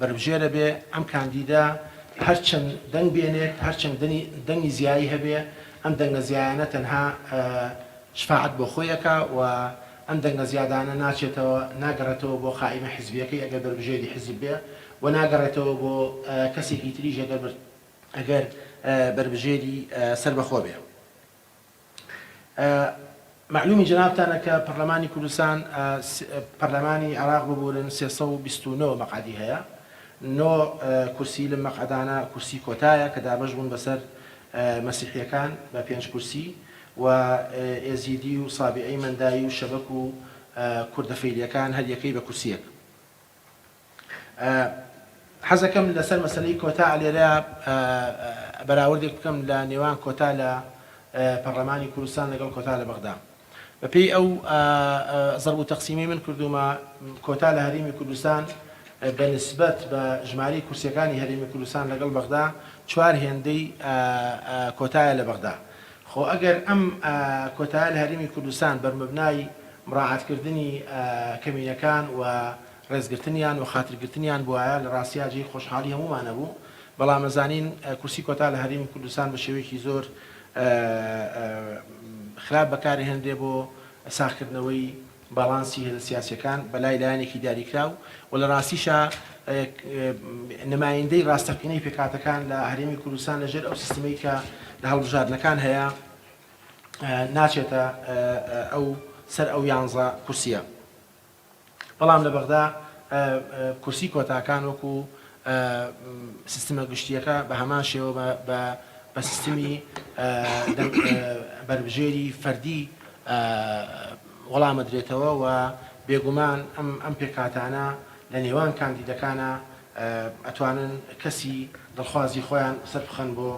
بەربژێرە بێ ئەم کاندیدە هەرچەند دەنگ بێنێت هەرچەند دەنگی زیایی هەبێ ئەم دەنگە زیایانە تەنها شفاعەت بۆ خۆی ئەکا و ئەم دەنگە زیادانە ناچێتەوە ناگەڕێتەوە بۆ قائیمە حزبیەکەی ئەگەر بەربژێری حزب بێ و ناگەڕێتەوە بۆ کەسێکی تریش ئەگەر بەربژێری سەربەخۆ بێ. مەعلومی جەنابتانە کە پەڕلەمانی کوردستان پەڕلەمانی عێڕاق ببورن سێ سەد و بیست و نۆ مەقعەدی هەیە نۆ کورسی لەم مەقعەدانە کورسی کۆتایە کە دابەش بوون بەسەر مەسیحیەکان بە پێنج کورسی و ئێزیدی و سابیعی مەندایی و شەبەک و کوردە فەیلیەکان هەر یەکەی بە کورسیەک. حەزەکەم لەسەر مەسەلەی کۆتا لێرە بەراوردێک بکەم لە نێوان کۆتا لە پەڕلەمانی کوردستان لەگەڵ کۆتا لە بەغدا بەپێی ئەو زەرب و تەقسیمەی من کردومە کۆتا لە هەرێمی کوردستان بە نسبەت بە ژماری کورسیەکانی هەرێمی کوردستان لەگەڵ بەغدا چوار هێندەی کۆتایە لە بەغدا خۆ ئەگەر ئەم کۆتایە لە هەرێمی کوردستان بەرمەبنای مراعاتکردنی کەمینەکان و ڕێزگرتنیان وخاترگرتنیان بوایە لە ڕاستیا جێی خۆشحاڵی هەموومان ئەبوو، بەڵام ئەزانین کورسی کۆتا لە هەرێمی کوردستان بە شێوەیەکی زۆر خراپ بەکار ئەهێنرێ بۆ ساخکردنەوەی باڵانسی هێزە سیاسیەکان بە لای لایەنێکی دیاریکراو و لە ڕاستیشا نمایندەی ڕاستەقینەی پێکهاتەکان لە هەرێمی کوردستان لە ژێر ئەو سیستمەی کە لە هەڵبژاردنەکان هەیە ناچێتە ئەو سەر ئەو یانزە کورسیە. بەڵام لە بەغدا کورسی کۆتاکان وەکو سیستمە گشتییەکە بە هەمان شێوە بە بە سیستمی بەربژێری فەردی وەڵامدرێتەوە و بێگومان ئەم پێکهاتانە لە نێوان کاندیدەکانا ئەتوانن کەسی دڵخوازی خۆیان سەربخەن بۆ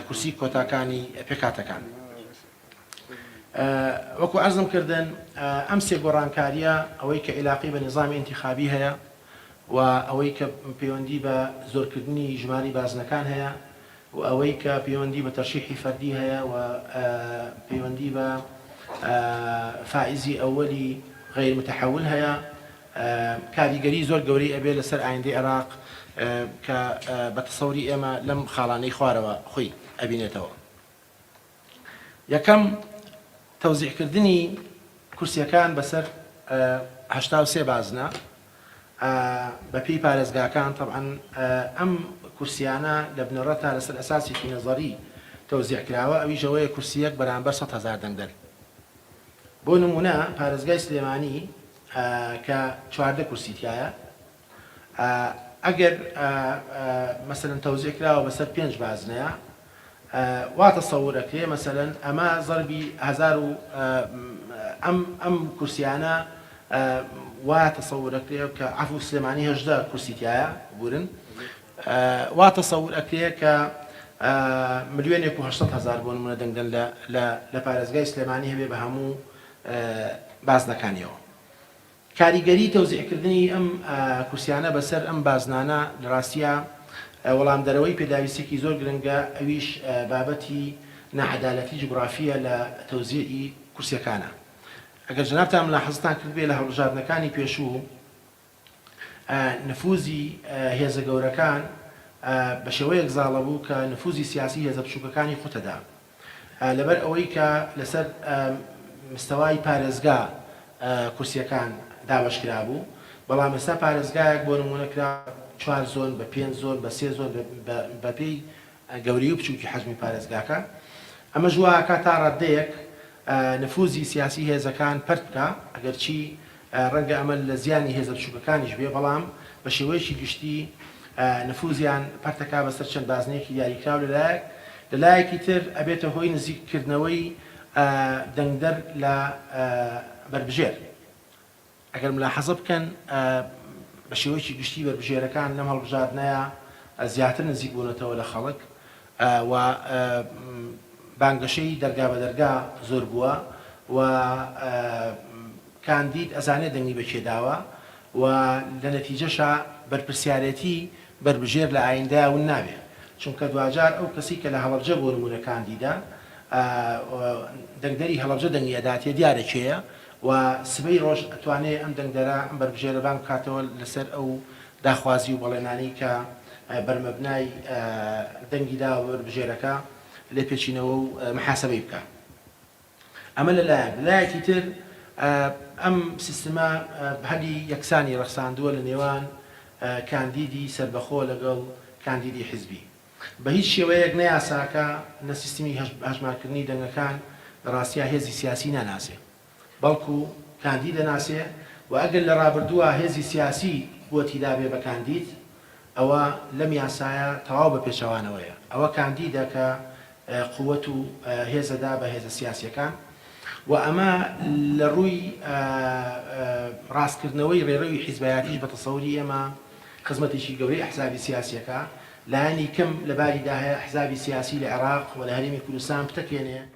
کورسی کۆتاکانی پێکهاتەکان. وەکو عەرزم کردن ئەم سێ گۆڕانکارییە ئەوەی کە ئیلاقەی بە نیزامی ئینتیخابی هەیە و ئەوەی کە پەیوەندی بە زۆرکردنی ژماری بازنەکان هەیە و ئەوەی کە پەیوەندی بە تەرشیحی فەردی هەیە و پەیوەندی بە فائزی ئەوەلی غیر متحول هەیە کاریگەری زۆر گەورەی ئەبێ لەسەر ئایندەی عێراق کە بە تەسەوری ئێمە لەم خاڵانەی خوارەوە خۆی ئەبینێتەوە یەکەم، تەوزیعکردنی کورسییەکان بەسەر هەشتا و سێ بازنە بەپێی پارێزگاکان، تەبعەن ئەم کورسییانە لە بنەڕەتدا لەسەر ئەساسێکی نەزەری تەوزیع کراوە، ئەویش ئەوەیە کورسییەک بەرامبەر سەد هەزار دەنگدەر. بۆ نموونە پارێزگای سلێمانی کە چواردە کورسی تیایە، ئەگەر مەسەلەن تەوزیع کراوە بەسەر پێنج بازنەیا وا تەسەور ئەکرێ مەسەلەن ئەمە زەربی هەزار و ئەم ئەم کورسیانە وا تەسەور ئەکرێ کە عەفو سلێمانی هەژدە کورسی تایە بورن وا تەسەور ئەکرێ کە ملیۆنێک و هەشتەد هەزار بۆ نمونە دەنگدەن لە لە پارێزگای سلێمانی هەبێ بە هەموو بازنەکانیەوە کاریگەری تەوزیعکردنی ئەم کورسیانە بەسەر ئەم بازنانە لە راستیا وەڵامدەرەوەی پێداویستیەکی زۆر گرنگە ئەویش بابەتی ناعەدالەتی جوگرافیە لە تەوزیعی کورسیەکانە ئەگەر جەنابتان ملاحەزەتان کردبێ لە هەڵبژاردنەکانی پێشوو نفوزی هێزە گەورەکان بەشێوەیەک زاڵەبوو کە نفوزی سیاسی هێزە بچوکەکانی قوتەدا لەبەر ئەوەی کە لەسەر مستەوای پارێزگا کورسیەکان دابەش کرابوو بەڵام ئێستا پارێزگایەک بۆ نموونە کرا چوار زۆن بە پێنج زۆن بە سێ زۆن بە پێی گەورەی و بچووکی حەجمی پارێزگاکە ئەمەش وا ئەکا تا ڕاددەیەک نفوزی سیاسی هێزەکان پەرت بکا ئەگەرچی ڕەنگە ئەمە لە زیانی هێزە بچووکەکانیش بێ، بەڵام بە شێوەیەکی گشتی نفوزیان پەرتەکا بەسەر چەند بازنەیەکی دیاریکراو لە لایەک، لە لایەکی تر ئەبێتە هۆی نزیک کردنەوەی دەنگدەر لە بەربژێر. ئەگەر ملاحەزە بکەن بە شێوەیەکی گشتی بەربژێرەکان لەم هەڵبژاردنەیا زیاتر نزیک بوونەتەوە لە خەڵک و بانگەشەی دەرگا بە دەرگا زۆر بووە و کاندید ئەزانێ دەنگی بە کێ داوە و لە نەتیجەشا بەرپرسیارێتی بەربژێر لە ئایندەیا ون نابێ چونکە دواجار ئەو کەسی کە لە هەڵەبجە بۆ نموونە کاندیدە و دەنگدەری هەڵەبجە دەنگی ئەداتێ دیارە کێیە و سبەی ڕۆژ ئەتوانێ ئەم دەنگدەرە ئەم بەربژێرە بانگ بکاتەوە لە سەر ئەو داخوازی و بەڵێنانەی کە بەرمەبنای دەنگی داوە بە بەربژێرەکە لێپێچینەوە و محاسەبەی بکا. ئەمە لە لایەک، لە لایەکی تر ئەم سیستمە بهلی یەکسانی ڕەخساندووە لە نێوان کاندیدی سەربەخۆ لەگەڵ کاندیدی حزبی. بە هیچ شێوەیەک نە یاساکە نە سیستمی هەژمارکردنی دەنگەکان لە ڕاستیا هێزی سیاسی ناناسێ. بەڵکو کاندی دەناسێ و ئەگەر لە رابردووە هێزی سیاسی بۆ تیدابێ بە کاندید ئەوە لەم یاسایە تەواو بە پێچەوانەوەیە ئەوە کاندیدە کە قوت و هێزەدا بە هێزە سیاسیەکان و ئەمە لە رووی راستکردنەوەی رێرەوی حیزبایەتیش بە تەسەوری ئێمە خزمەتێکی گەورەی ئەحزابی سیاسیەکە لایەنی کەم لە باریدا هەیە ئەحزابی سیاسی لە عێراق و لە هەرێمی کوردستان پتەکێنێ.